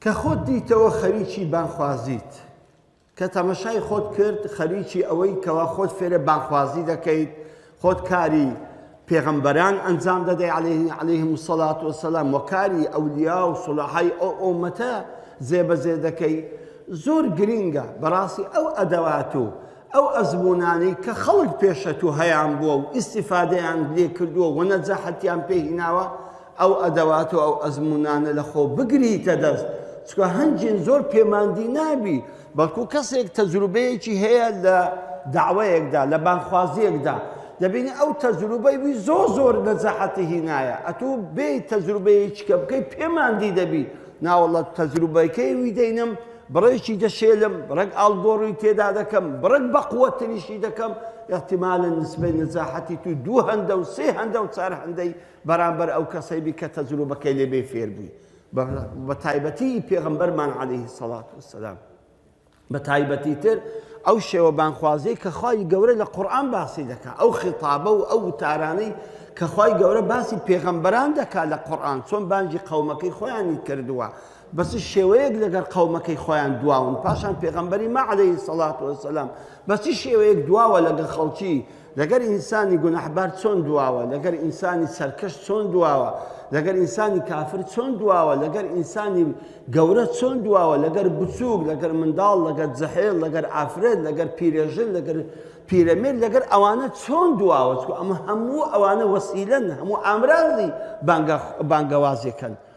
کە خۆت دیتەوە خەریکی بانگخوازیت، کە تەمەشای خۆت کرد خەریکی ئەوەی کەوا خۆت فێرێ بانگخوازی دەکەیت، خۆت کاری پێغەمبەران ئەنجام دەدەی علیهم الصلاة والسلام و کاری ئەولیا و صلحای ئەو ئۆمەتە جێبەجێ دەکەی زۆر گرینگە بەڕاستی ئەو ئەدەوات و ئەو ئەزمونانەی کە خەڵک پێشە تو هەیان بووە و ئیسیفادەیان لێ کردووە و نەجاحەتیان پێهیناوە ئەو ئەدەوات و ئەو ئەزموونانە لە خۆ بگریتە دەست، چونکە هەنگین زۆر پێماندی نابی، بەڵکو کەسێک تەجروبەیەکی هەیە لە دەعوەیەکدا، لە بانگخوازییەکدا، دەبینی ئەو تەجروبەی وی زۆر زۆر نەجاحەتی هینایە، ئەتوو بێی تەجروبەیەکیکە بکەی پێماندی دەبی، ناوەڵڵا تەجروبەکەی وی دەینم، بڕێکی دەشێلم، بڕێک ئاڵگۆڕی تێدا دەکەم، بڕێک بەقوەتتریشی دەکەم، ئیحتیمالەن نسبەی نەجاحەتی توو دوو هەندە و سێ هەندە و چار هەندەی بەرامبەر ئەو کەسەی بی کە تەجروبەکەی لێ بێ فێر بووی بە تایبەتی ئی پێغەمبەرمان علیه الصلوة والسلام بە تایبەتی تر ئەو شێوە بانخوازی کە خوای گەورە لە قورآن باسی دەکا ئەو خیتابە و ئەو وتارانەی کە خوای گەورە باسی پێغەمبەران دەکا لە قورآن چۆن بانگی قەومەکەی خۆیانی کردووە بەس شێوەیەک لەگەر قەومەکەی خۆیان دواون پاشان پێغەمبەری ما علیه الصلاة والسلام بەچی شێوەیەک دواوە لەگە خەڵکی لەگەر ئینسانی گوناحبار چۆن دواوە، لەگەر ئینسانی سەرکەش چۆن دواوە، لەگەر ئینسانی کافر چۆن دواوە، لەگەر ئینسانی گەورە چۆن دواوە، لەگەر بچووک، لەگەر منداڵ، لەگەر جەحێل، لەگەر ئافرەت، لەگەر پیرێژن، لەگەر پیرەمێرد، لەگەر ئەوانە چۆن دواوە، چکو ئەمە هەموو ئەوانە وەسیلەن، هەموو ئامرازی بانگەوازێکن.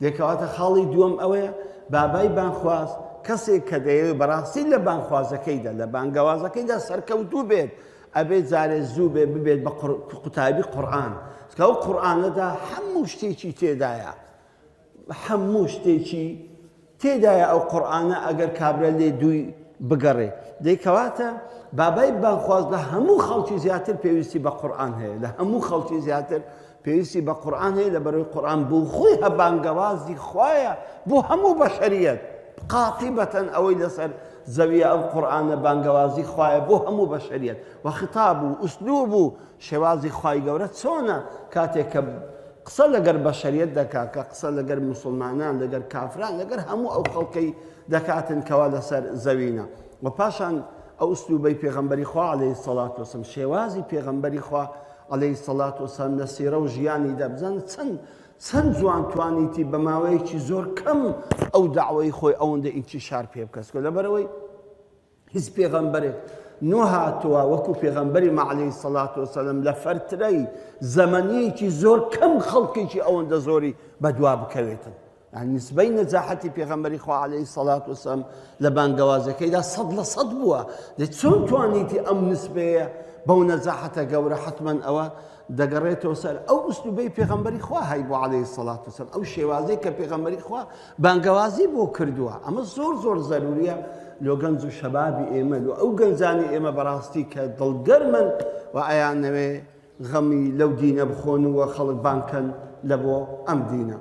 دەی کەواتە خاڵی دووەم ئەوەیە بابای بانگخواز کەسێک کە دەیەوێت بەڕاستی لە بانگخوازەکەیدا لە بانگەوازەکەیدا سەرکەوتوو بێت ئەبێت جارێ زوو بێ ببێت بە قوتابی قورآن کە ئەو قورآانەدا هەموو شتێکی تێدایە هەموو شتێکی تێدایە ئەو قورآانە ئەگەر کابرا لێ دووی بگەڕێ دەیکەواتە بابای بانخواز لە هەموو خەڵکی زیاتر پێویستی بە قورآان هەیە لە هەموو خەڵکی زیاتر پێویستی بە قورئان هەیە لەبەرەوەی قورئان بۆ خۆی هە بانگەوازی خوایە بۆ هەموو بەشەریەت قاتیبەتەن ئەوەی لەسەر زەویە ئەو قورئانە بانگەوازی خوایە بۆ هەموو بەشەریەت و خطاب و ئوسلوب و شێوازی خوای گەورە چۆنە کاتێک کە قسە لەگەر بەشەریەت دەکا کە قسە لەگەر مسلمانان لەگەر کافران لەگەر هەموو ئەو خەڵکەی دەکاتن کەوا لەسەر زەوینە و پاشان ئەو ئوسلوبەی پێغەمبەری خوا عليه سەڵات وسم شێوازی پێغەمبەری خوا عەلەیهی الصلوة والسلام لە سیرە و ژیانیدا بزانە چەند چەند جوان توانیتی بە ماوەیەکی زۆر کەم ئەو داوای خۆی ئەوەندە ئینتیشار پێ بکەس کە لەبەرەوەی هیچ پێغەمبەرێک نۆ هاتووە وەکو پێغەمبەری مەعلەی سەلات و سەلم لە فەرترەی زەمەنیەکی زۆر کەم خەڵکێکی ئەوەندە زۆری بەدوا بکەوێتن یانی نسبەی نەجاحەتی پێغەمبەری خوا عەلەیهی سەڵات وسەم لە بانگەوازەکەیدا سەد لە سەد بووە دە چۆن توانیتی ئەم نسبەیە بەو نەجاحەتە گەورە حتممەن ئەوە دەگەڕێتەوە سەر ئەو ئوسلوبەی پێغەمبەری خوا هەی بۆ عليهەی سەڵات وسم ئەو شێوازەی کە پێغەمبەری خوا بانگەوازی بۆ کردووە ئەمە زۆر زۆر زەروریە لۆ گەنج و شەبابی ئێمە و ئەو گەنجانی ئێمە بەڕاستی کە دڵگەرمن و ئەیانەوێ غەمی لەو دینە بخۆن و خەڵک بانکەن لە بۆ ئەم دینە.